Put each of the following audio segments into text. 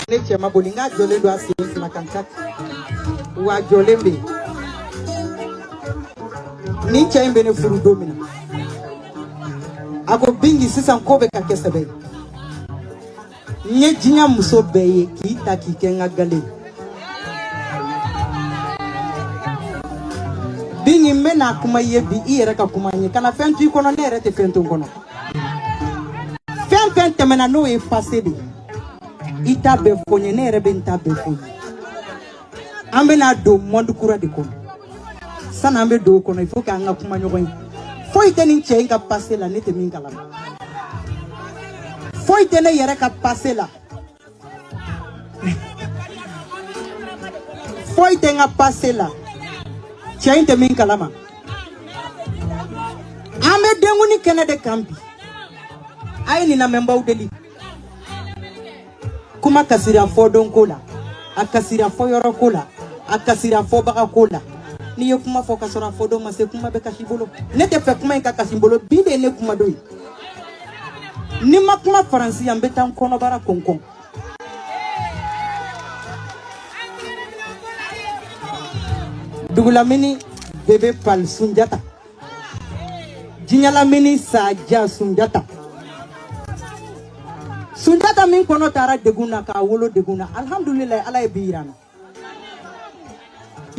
ne cɛ ma boli n k'a jɔlen don a sen fila kan ka wa a jɔlen bɛ yen nin cɛ in bɛ ne furu don min na a ko bingi sisan ko bɛ ka kɛ sɛbɛ ye n ye diɲɛ muso bɛɛ ye k'i ta k'i kɛ n ka galen bi nin n bɛna kuma i ye bi i yɛrɛ ka kuma n ye kana fɛn to i kɔnɔ ne yɛrɛ tɛ fɛn to n kɔnɔ fɛn fɛn tɛmɛna n'o ye pase de ye i ta bɛɛ fɔ n ye ne yɛrɛ bɛ n ta bɛɛ fɔ i ye an bɛna don mɔndi kura de kɔnɔ sani an bɛ don o kɔnɔ il faut que an ka kuma ɲɔgɔn ye foyi tɛ nin cɛ in ka pase la ne tɛ min kalama foyi tɛ ne yɛrɛ ka pase la foyi tɛ n ka pase la cɛ in tɛ min kalama an bɛ denkundi kɛnɛ de kan bi a ye nin lamɛnbaaw deli kuma kasira fɔ don ko la a kasira fɔ yɔrɔ ko la a kasira fɔbaga ko la n'i ye kuma fɔ ka sɔrɔ a fɔ don ma se kuma bɛ kasi i bolo ne t'a fɛ kuma in ka kasi n bolo bi de ye ne kuma don ye ni n ma kuma faransi yan n bɛ taa n kɔnɔbara kɔnkɔn dugulamini bebe pal sunjata Diɲɛ lamini sa jan Sunjata. Sunjata min kɔnɔ tara degun na k'a wolo degun na alhamdulilayi ala ye bi yira n na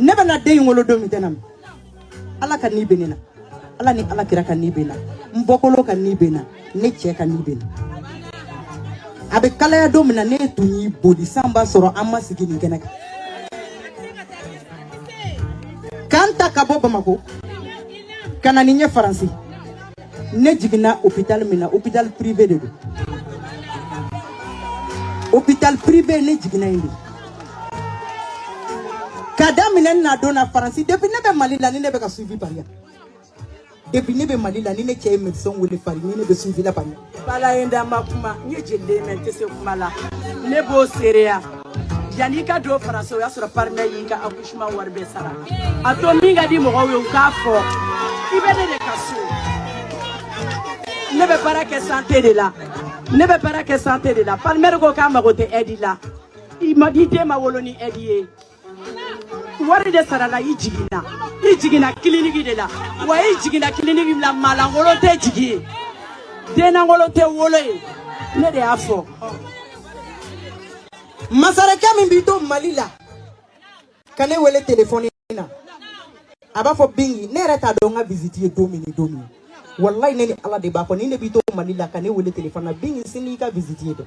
ne bɛna den in wolo don min tɛna ala kani bɛ ne na ala ni ala kira kani bɛ n na n bɔkolo kani bɛ n na ne cɛ kani bɛ n na a bɛ kalaya don min na ne tun y'i boli san b'a sɔrɔ an ma sigi nin kɛnɛ kan ka n ta ka bɔ bamakɔ ka na ni n ye faransi ne jiginna hôpital min na hôpital privé de don hôpital privé ne jiginna yen de ka daminɛ n na don na faransi depuis ne bɛ mali la ni ne bɛ ka suivi pari yan depuis ne bɛ mali la ni ne cɛ ye médecin wele pari ni ne bɛ suivi la kabini ala ye n da n ma kuma n ye jeliden ye mɛ n tɛ se kuma la ne b'o seereya yanni i ka don faransi o y'a sɔrɔ palmer y'i ka accouchement wari bɛɛ sara a tɔ min ka di mɔgɔw ye u k'a fɔ i bɛ ne de ka so ne bɛ baara kɛ sante de la ne bɛ baara kɛ sante de la palmer ko k'a mago tɛ ɛdi la i den ma wolo ni ɛdi ye wari de sarala i jiginna i jiginna kiliniki de la wa i jiginna kiliniki la maa lankolon tɛ jigi ye den lankolon tɛ wolo ye ne de y'a fɔ masarenkɛ min b'i to mali la ka ne wele telefɔni na a b'a fɔ bingi ne yɛrɛ t'a dɔn n ka visiti ye don min ni don min walayi ne ni ala de b'a fɔ ni ne b'i to mali la ka ne wele telefɔni na bingi sini i ka visiti ye dɛ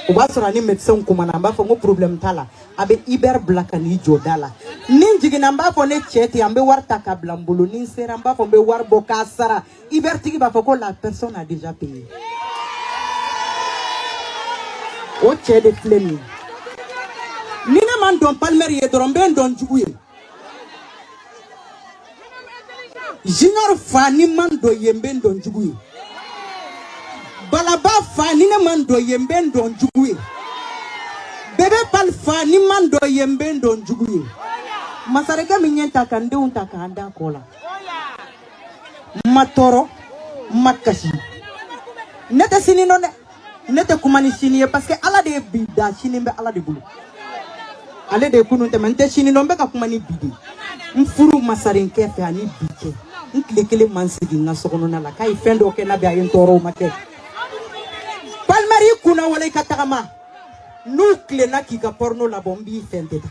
o b'a sɔrɔ a ni médecin kumana n b'a fɔ ko problème t'a la a bɛ Uber bila ka n'i jɔ da la ni n jiginna n b'a fɔ ne cɛ ten an bɛ wari ta ka bila n bolo ni n sera n b'a fɔ n bɛ wari bɔ k'a sara Uber tigi b'a fɔ ko la personne a déjà payé o cɛ de filɛ nin ye ni ne ma n dɔn Palmer ye dɔrɔn n bɛ n dɔn jugu ye Junior fa ni n ma n dɔn i ye n bɛ n dɔn jugu ye balaba fa ni ne ma n dɔn i ye n bɛ n dɔn jugu ye bébé pali fa ni n ma n dɔn i ye n bɛ n dɔn jugu ye masarenkɛ min ye n ta ka n denw ta k'an da kɔ la n ma tɔɔrɔ n ma kasi ne tɛ sini dɔn dɛ ne tɛ kuma ni sini ye parce que ala de ye bi dan sini bɛ ala de bolo ale de ye kunun tɛmɛ n tɛ sini dɔn n bɛ ka kuma ni bi de n furu masarenkɛ fɛ ani bi cɛ n tile kelen ma n sigi n ka sokɔnɔna la k'a ye fɛn dɔ kɛ n'a bɛ a ye n tɔɔrɔ o ma kɛ Palmer i kunnawolo i ka tagama n'u tilenna k'i ka pɔrɔno labɔ n b'i fɛ tɛ ta